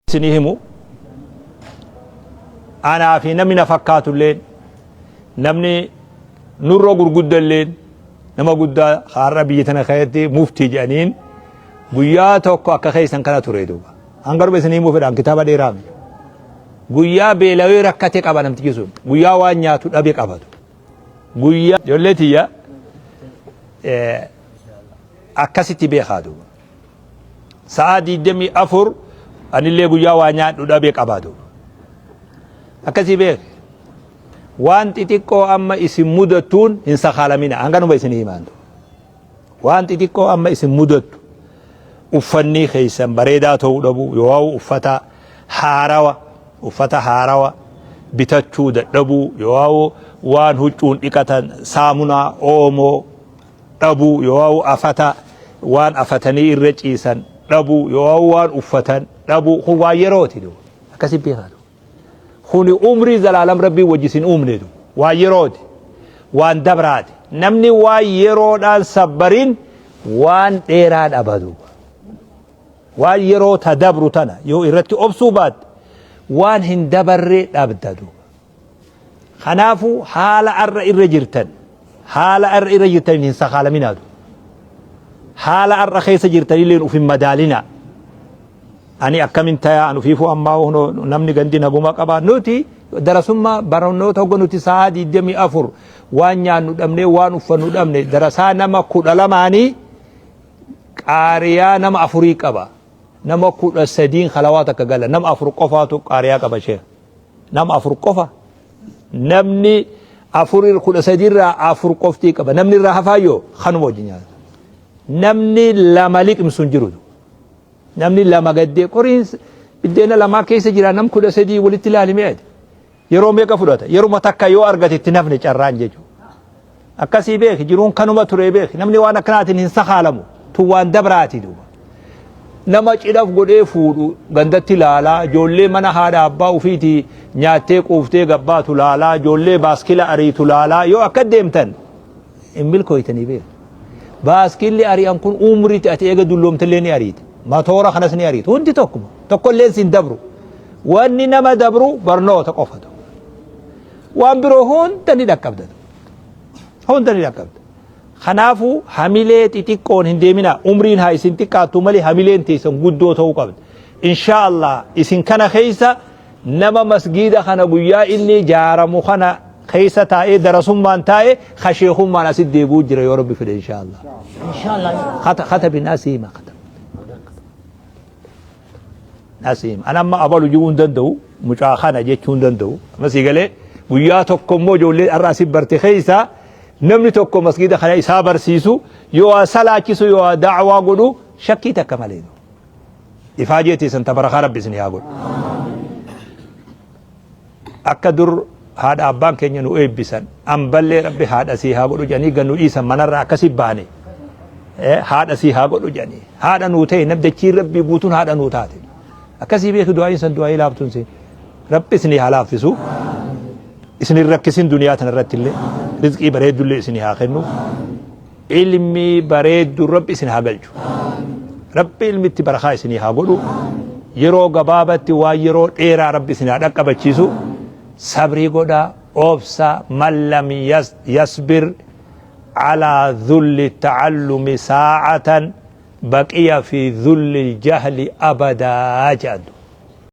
isinii himu anaa fi namni na fakkaatu illeen namni nurra gurgudda illeen nama guddaa har'a biyya tana keessatti muftii jedhaniin guyyaa tokko akka keessan kana ture duuba hanga dhume isinii himuu fedhaan kitaaba dheeraa miti guyyaa beelawee rakkate qaba namtichi sun guyyaa waan nyaatu dhabe qabatu guyyaa ijoollee tiyya akkasitti beekaa duuba sa'aa 24 anillee guyyaa waa nyaadhu dhabe qabaatu. Akkasii beek waan xixiqqoo amma isin mudattuun hin sakaalamina hanganuma isin himaantu. Waan xixiqqoo amma isin mudattu uffannii keessan bareedaa ta'uu dhabuu yoo uffata haarawa uffata haarawa bitachuu dadhabuu yoo waan huccuun dhiqatan saamunaa oomoo dhabuu yoo'aa'u afata waan afatanii irra ciisan dhabuu yoo'aa'u waan uffatan dhabuu kun waan yerooti du akkasi beekaatu kuni umrii zalaalam rabbii wajjisin uumne du waan yerooti waan dabraati namni waan yeroodhaan sabbarin waan dheeraa dhabadu waan yeroo ta dabru tana yoo irratti obsuu baatte waan hin dabarre dhabda duuba Kanaafuu haala ar'a irra jirtan haala ar'a irra jirtaniin hin sakaalaminaa du. Haala ar'a keessa jirtanilleen uf hin madaalinaa. Ani akkamin tayaa an ufiifuu ammaa hono namni gandi naguma qabaa nuti darasummaa barannoota hogga nuti sa'a 24 waan nyaannu dhabnee waan uffannu dhabne darasaa nama kudha lamaanii qaariyaa nama afurii qaba. Nama kudha sadiin kalawaa takka gala nama afur qofaatu qaariyaa qaba sheekh. Nama afur qofa. Namni afur kudha sadii irraa afur qoftii qaba. Namni irraa hafaa yoo kanuma wajjin nyaata. Namni lama liqimsu hin jiru. Namni lama gaddee qoriin biddeena lamaa keessa jira nam kudha sadii walitti ilaalime jedhe. Yeroo meeqa fudhata? Yeruma takka yoo argate itti nafne carraan jechuudha. Akkasii beeki jiruun kanuma turee beeki namni waan akkanaatiin hin sakaalamu tun waan dabraati duuba. Nama cidhaf godhee fuudhu gandatti laalaa ijoollee mana haadha abbaa ufiiti nyaattee quuftee gabbaatu laalaa ijoollee baaskila ariitu laalaa yoo akka deemtan hin milkooytanii beeki. Baaskilli ari'an kun umriitti ati eega dulloomtillee ni ariita. Matoora kanas ni ariita. Hundi tokkuma. Tokkolleen siin dabru. Wanni nama dabru barnoota qofatu. waan biroo hunda ni dhaqqabda hunda ni dhaqqabda kanaafuu hamilee xixiqqoon hin deeminaa umriin haa isin xiqqaattu malee hamileen teessan guddoo ta'uu qabda inshaa allah isin kana keessa nama masgiida kana guyyaa inni jaaramu kana keessa taa'ee darasummaan taa'ee kasheekummaan asit deebi'uu jira yoo rabbi fedhe inshaa allah إن شاء الله kata kata binaa siima kata Nasiim. An amma abalu ji'uu hin danda'u. Mucaa kana jechuu hin danda'u. Amma sii galee guyyaa tokko immoo ijoollee har'aa si barte keessaa namni tokko masgiida kana isaa barsiisu yoo waa salaachisu yoo waa daawaa godhu shakkii takka malee. Ifaa jeetii san tabarakaa rabbi isin yaa godhu. Akka dur haadha abbaan keenya nu eebbisan amballee rabbi haadha sii haa godhu jedhanii gannu dhiisan manarraa akkasi baane haadha sii haa godhu jedhanii haadha nuu ta'e namdachiin rabbii guutuun haadha nuu taate akkasii beeku du'aa'iin san du'aa'ii laaftuun siin rabbi isinii haa laaffisu isin hin rakkisin duniyaa tanarratti illee rizqii bareeddullee isinii haa kennu ilmi bareeddu rabbi isin haa galchu rabbi ilmitti barakaa isinii haa godhu yeroo gabaabatti waan yeroo dheeraa rabbi isin haa dhaqqabachiisu sabrii godha obsa man lam yas- yasbir alaa dhulli ta'allumi saa'atan baqiya fi dhulli jahli abadaa jedhantu